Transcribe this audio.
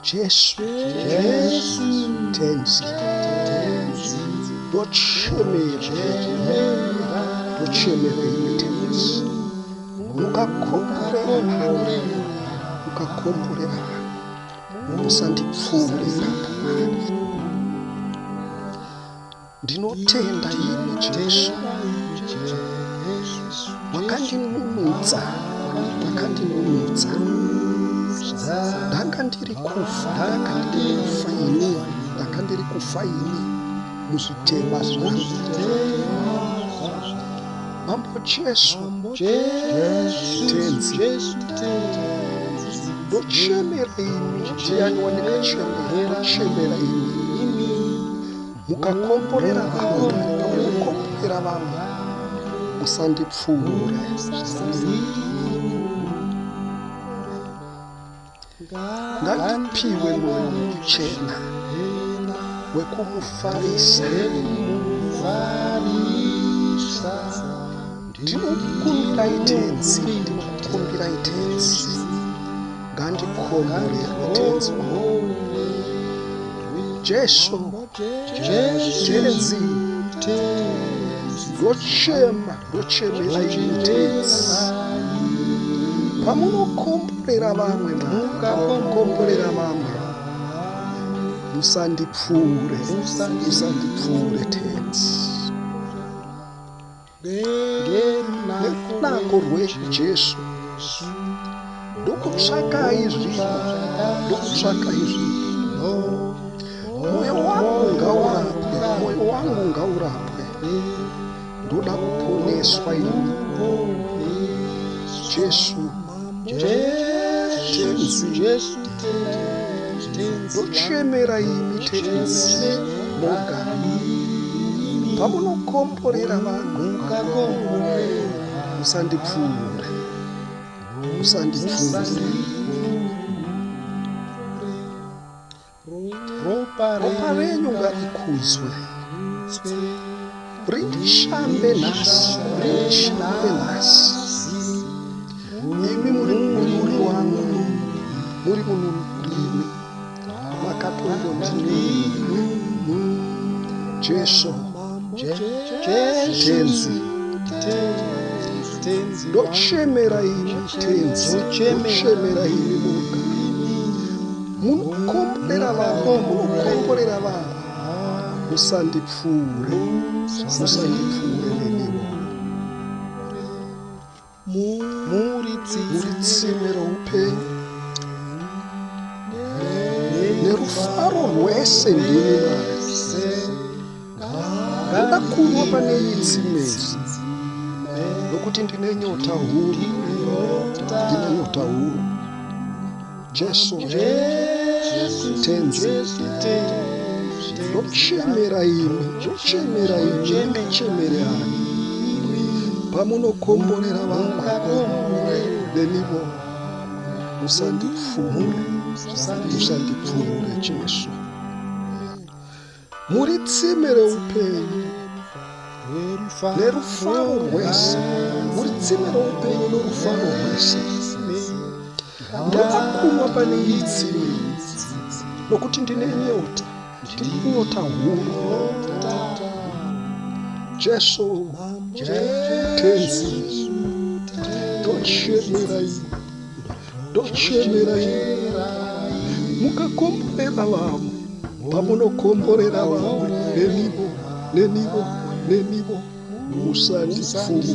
Jesu, Jesu, tenzi, tenzi, ndochemera, ndochemera iwe tenzi, mukakomborera, mukakomborera, musandipfuure ipapo. Ndinotenda imi Jesu, makandinunutsa, makandinunutsa. Ndanga ndiri kufa, ndanga ndiri kufa ini, ndanga ndiri kufa ini muzvitema zvangu. Mambo Jesu, Tenzi, ndochemera imi, ndiyani wandingachemera, ndochemera imi. mukakomborera vamwe mukomborera vamwe musandipfuure ngandipiwe mwoyo wekuchena wekumufarisa ndinokumbirai tenzi ndinokumbirai tenzi ngandikomborerwe tenzi wangu jesu tenzi ndochema ndochemera ini tenzi pamunokomborera vamwe mukakomborera vamwe musandipfuure musandipfuure tenzi nerunako rwejesu ndokutsvaka izvi ndokutsvaka izvi moyo wangu ngaurapwe moyo wangu ngaurapwe ndoda kuponeswa ini jesu ndochemera imi tenzi moga pamunokomborera vanhu musandipfuure musandipfuure ropa renyu ngarikudzwe rindishambe nhasi rindishambe nhasi imi muri munuri wangu muri munuri ndimi makatongondinini jesu tenzi ndochemera imi tenzi ndochemera imi muga munokomborera vanhu munokomborera vanhu musandipfuure musandipfuure neniwo muri tsime roupenyu nerufaro rwese ndini mari ndakakunwa pane iyi tsimezi nokuti ndine nyota huru ndine nyota huru Jesu, Tenzi, ndochemera imi, ndochemera imi, ndichemere ani pamunokomborera vamwe nenivo musandipfumure musandipfumure Jesu. muri tsime reupenyu nerufaro rwese muri tsime reupenyu norufaro rwese ndakakumwa pane iyi tsime nokuti ndine nyota ndine nyota huru jesu tenzi tochemerai ndochemera mukakomborera vamwe pamunokomborera vamwe nenivo nenivo nenivo musandipfuure